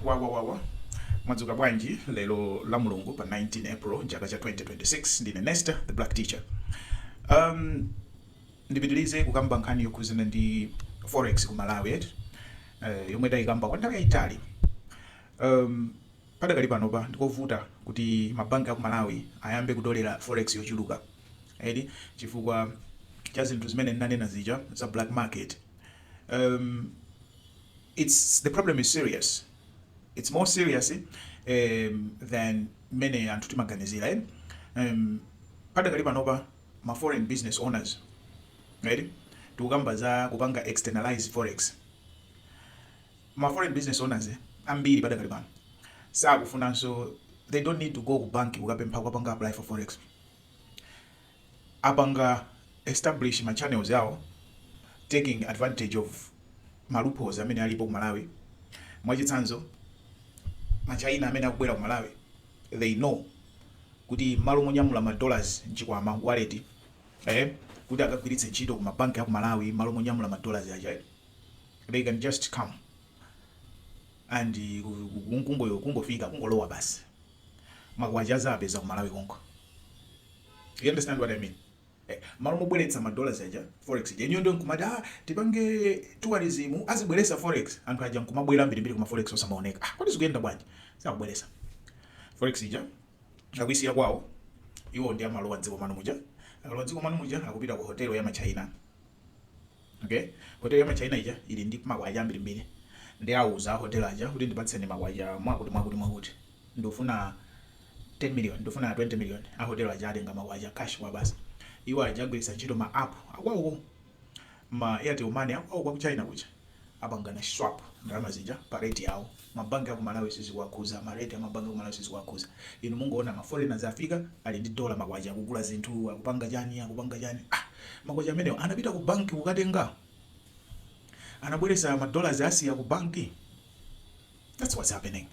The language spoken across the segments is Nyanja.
wawawawa mwadzuka bwanji lero la mulungu pa 19 april chaka cha 2026 ndine nester the black teacher um, ndipitirize kukamba nkhani yokhuzana ndi forex ku malawi et uh, yomwe tayikamba kwa nthawi yayitali um, padakali panopa ndikovuta kuti mabanki aku malawi ayambe kutolera forex yochuluka edi chifukwa cha zinthu zimene ndinanena zija za black market um, Its the problem is serious its more serious em than mmene anthu timaganizira em em padakali panopa ma foreign business owners eti tikukamba za kupanga externalise forex ma foreign business owners ambiri padakali pano sakufunanso they don't need to go ku bank kukapempha kupanga apply for forex apanga establish ma channels awo taking advantage of ma loopholes amene alipo ku Malawi, mwachitsanzo ma China amene akubwera ku Malawi they know kuti mmalo monyamula ma dollars mchikwama, wallet, kuti akagwiritse ntchito ku ma bank aku Malawi mmalo monyamula ma dollars aja they can just come and kungofika kungolowa basi ma kwacha azaapeza ku Malawi konko. Do you understand what I mean? Eh, mmalo mobweretsa ma dollars aja forex ija ife ndi kumati ah tipange tourism azibweresa forex anthu aja nkumabwera ambirimbiri koma forex osamaoneka ah kodi zikuyenda bwanji sakubweresa forex ija akuisiya kwawo iwo nde amalowa dziko mano muja akalowa dziko mano muja akupita ku hotelo ya ma China Okay hotelo ya ma China ija ili ndi makwacha ambirimbiri nde auza a hotel aja kuti ndipatseni makwacha mwakuti mwakuti mwakuti ndikufuna 10 million ndikufuna 20 million a hotel aja atenga makwacha cash kuwapatsa iwo aja agwiritsa ntchito ma app akwawo ma Airtel Money akwawo kwa ku China kuja apangana swap ndalama zija pa rate yawo Ma bank aku Malawi sizikuwakhuza, ma rate a ma bank aku Malawi sizikuwakhuza. Inu mungoona ma foreigners afika ali ndi dollar ma kwacha akugula zinthu, akupanga chani, akupanga chani. Ah! Ma kwacha amenewa anapita ku bank kukatenga? Anabweresa ma dollars anasiya ku bank? That's what's happening.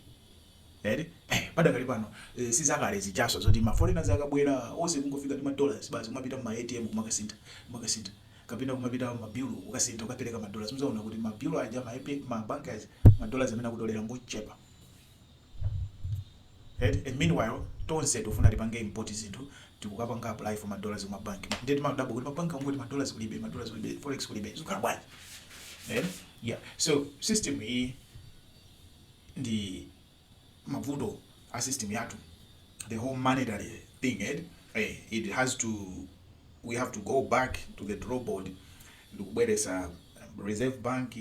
Eti? Eh, padakali pano eh, sizakale zijaso zoti ma foreigners akabwera onse kungofika ndi ma dollars basi kumapita mu ma ATM kumakasinta, kumakasinta. kapena kumapita ku ma bureau kukasintha kukapereka ma dollars mudzaona kuti ma bureau aja ma AP ma bank aja ma dollars amene akutolera ngochepa eti and meanwhile tonse tikufuna tipange import zinthu tikukapanga apply for ma dollars ku ma bank ndiye timadabwa kuti ma bank angoti ma dollars kulibe ma dollars kulibe forex kulibe zikhala bwanji eh yeah so system iyi ndi mavuto a system yathu the whole monetary thing eti eh it has to we have to go back to the draw board ndikubweretsa reserve bank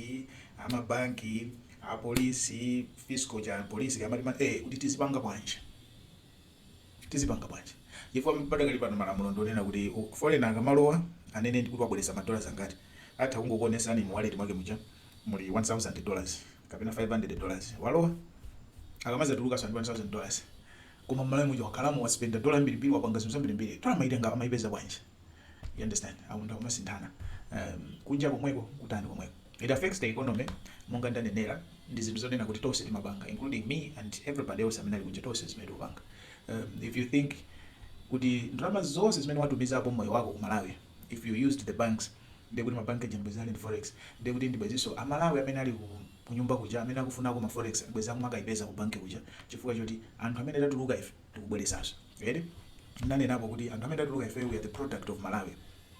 amabanki apolisi fiscal ya polisi amati eh kuti tizipanga bwanji tizipanga bwanji chifukwa padakali pano malamulo ndi onena kuti foreigner akamalowa anene kuti wabweretsa ma dollars angati, atha kungokuonetsani mu wallet mwake muja muli 1000 dollars kapena 500 dollars walowa akamadzatulukanso ndi 1000 dollars koma mMalawi muja wakhalamo waspenda dollar yambirimbiri wapanga zinthu zambirimbiri dollar amaitenga amaipeza bwanji you understand, anthu akumasinthana kunja komweko kutani komweko. It affects the economy monga ndanenera ndi zinthu zonena kuti tonse timapanga including me and everybody else amene ali kunja tonse zimene timapanga um, if you think kuti ndalama zonse zimene watumizapo moyo wako ku Malawi if you used the banks ndiye kuti mabanki aja bwenzi ali ndi forex ndiye kuti ndi bwenzinso amalawi amene ali ku kunyumba kuja amene akufunako ma forex bwenzi akumakayipeza ku banki kuja chifukwa choti anthu amene tatuluka ife tikubweretsanso eh ndinanenapo kuti anthu amene tatuluka ife we are the product of Malawi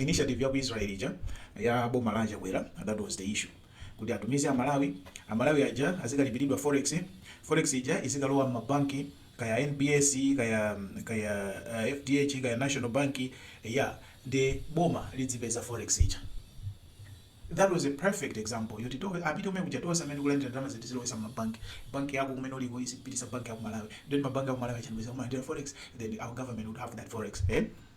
Initiative ya ku Israel ija ya boma la a Chakwera that was the issue kuti atumize amalawi amalawi aja azikalipiridwa forex forex ija izikalowa mma bank kaya NBS kaya kaya uh, FDH kaya National Bank ya ndiye boma lidzipeza forex ija that was a perfect example yoti tonse amene tili kunja tonse amene tikulandira ndalama zi tizilowetsa mma bank bank yako kumene uliko izipitisa bank ya ku Malawi then mabank a ku Malawi aja ndi bwenzi akumalandira forex then our government would have that forex eh?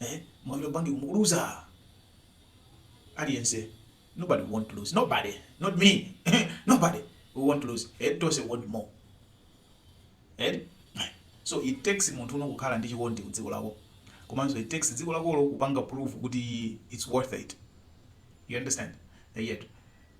eh mwabira bangi kumukuruza aliyense nobody want to lose nobody not me nobody we want to lose head to say want more head so it takes munthu uno kukhala ndi chikondi ku dziko lako komanso it takes dziko lakolo kupanga proof kuti it's worth it you understand yet